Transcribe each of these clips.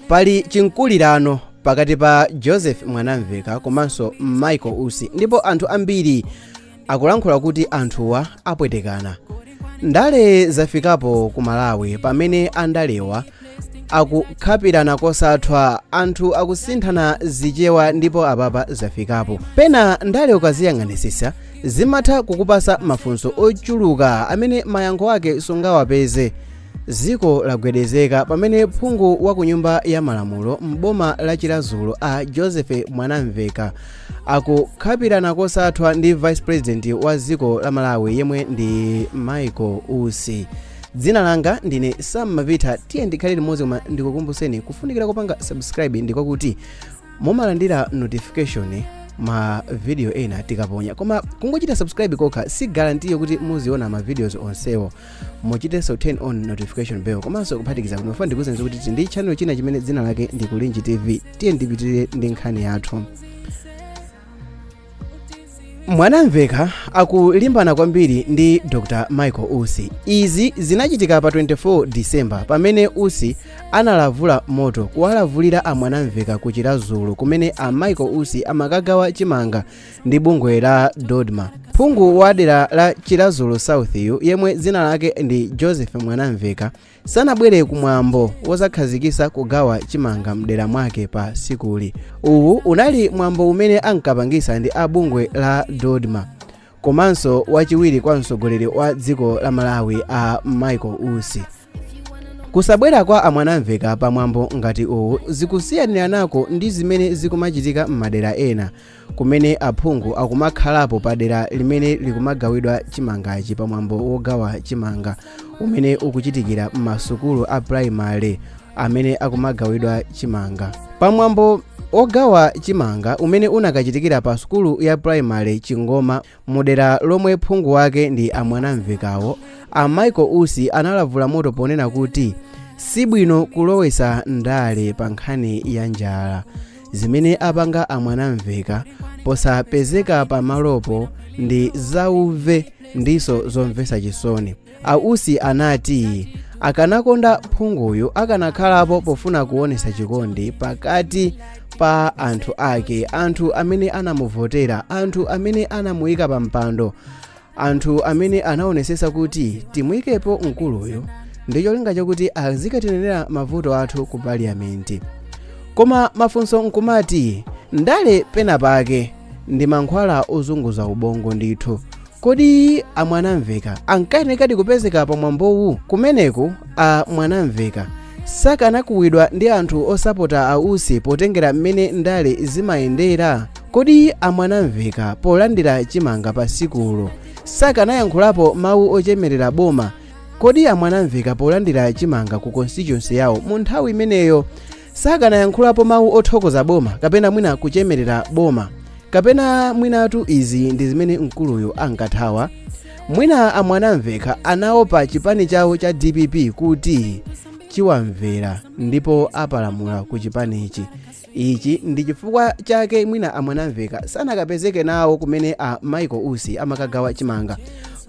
pali chimkulirano pakati pa joseph mwanamveka komanso michael usi ndipo anthu ambiri akulankhula kuti anthuwa apwetekana ndale zafikapo ku malawi pamene andalewa akukhapirana kosathwa anthu akusinthana zichewa ndipo apapa zafikapo pena ndale ukaziyang'anisisa zimatha kukupasa mafunso ochuluka amene mayankho ake sungawapeze Dziko lagwedezeka pamene phungu wa ku nyumba ya malamulo m'boma la Chiradzulu a Joseph Mwanamveka akukhapirana kosathwa ndi vice president wa dziko la Malawi yemwe ndi Michael Usi. Dzina langa ndine Sam Mavitha, tiyeni tikhale limodzi koma ndikukumbutseni kufunikira kopanga subscribe ndi kwakuti mumalandira notification ma video ena tikaponya koma kungochita subscribe kokha si guarantee kuti muziona ma videos onsewo muchitenso turn on notification bell komanso kuphatikiza ndimafuna ndikuuzeni kuti tili ndi channel china chimene dzina lake ndi kulinji tv tiyeni tipitirire ndi nkhani yathu mwanamveka akulimbana kwambiri ndi dr michael usi izi zinachitika pa 24 december pamene usi analavulira moto kuwalavulira amwanamveka ku chiradzulu kumene a michael usi amakagawa chimanga ndi bungwe la dodma phungu wa dera la chiradzulu south-yu yemwe dzina lake ndi joseph mwanamveka sanabwere kumwambo wozakhazikisa kugawa chimanga mdera mwake pa sikuli uwu unali mwambo umene ankapangisa ndi a bungwe la dodma komanso wachiwiri kwa mtsogoleri wa dziko la malawi a michael usi kusabwera kwa amwanamveka pa mwambo ngati uwu zikusiyaniranako ndi zimene zikumachitika m'madera ena kumene aphungu akumakhalapo pa dera limene likumagawidwa chimangachi pa mwambo wogawa chimanga umene ukuchitikira m'masukulu a primary amene akumagawidwa chimanga pa mwambo wogawa chimanga umene unakachitikira pa sukulu ya primary chingoma Mu dera lomwe phungu wake ndi a Mwanamvekawo, a Michael Usi analavula moto ponena kuti si bwino kulowetsa ndale pa nkhani ya njala. Zimene apanga a Mwanamveka posapezeka pamalopo ndi zauve ndinso zomvetsa chisoni. A Usi anati akanakonda phunguyu akanakhalapo pofuna kuonesa chikondi pakati pa anthu ake, anthu amene anamuvotera, anthu amene anamuyika pa mpando, anthu amene anaonesesa kuti timuyikepo mkuluyu ndi cholinga chakuti azikatinenera mavuto athu ku parliament. Koma mafunso nkumati ndale pena pake ndi mankhwala ozunguza ubongo ndithu. Kodi a Mwanamveka ankayenekadi kupezeka pa mwambowu? Kumeneku a Mwanamveka sakanakuwidwa ndi anthu osapota a Usi potengera mmene ndale zimayendera? Kodi a Mwanamveka polandira chimanga pa sikulo sakanayankhulapo mawu ochemerera boma? Kodi a Mwanamveka polandira chimanga ku constituency yawo mu nthawi imeneyo sakanayankhulapo mawu othokoza boma kapena mwina kuchemerera boma kapena mwinatu izi ndi zimene mkuluyo ankathawa mwina amwanamveka anaopa chipani chawo cha dpp kuti chiwamvera ndipo apalamula ku chipanichi ichi ndi chifukwa chake mwina amwanamveka sanakapezeke nawo kumene a michael usi amakagawa chimanga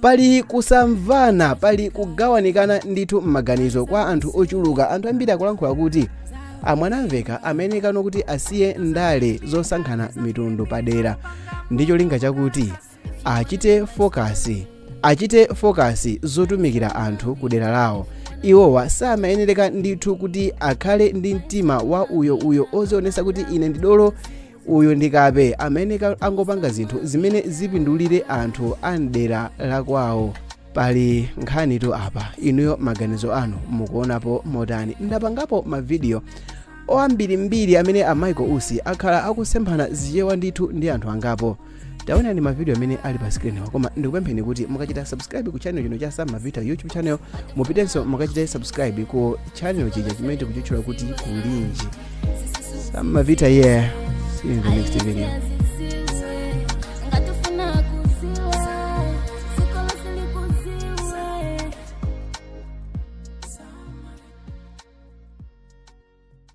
pali kusamvana pali kugawanikana ndithu m'maganizo kwa anthu ochuluka anthu ambiri akulankhula kuti amwanamveka amayenereka kano kuti asiye ndale zosankhana mitundu padera ndi cholinga chakuti achite fokasi achite fokasi zotumikira anthu ku dera lawo iwowa samayenereka ndithu kuti akhale ndi mtima wa uyo uyo ozionesa kuti ine ndi dolo uyu ndi kape amayenereka angopanga zinthu zimene zipindulire anthu a mdera la kwawo pali nkhanitu apa inuyo maganizo anu mukuonapo motani ndapangapo mavidiyo oambirimbiri amene a michael usi akhala akusemphana zichewa ndithu ndi anthu angapo taonani mavidiyo amene ali pa screen-wa koma ndikupempheni kuti mukachita subscribe ku channel chino cha sam mavita youtube channel mupitenso mukachite subscribe ku channel chija chimene tikuchitchula kuti kulinji sam mavita yeah see you in the next video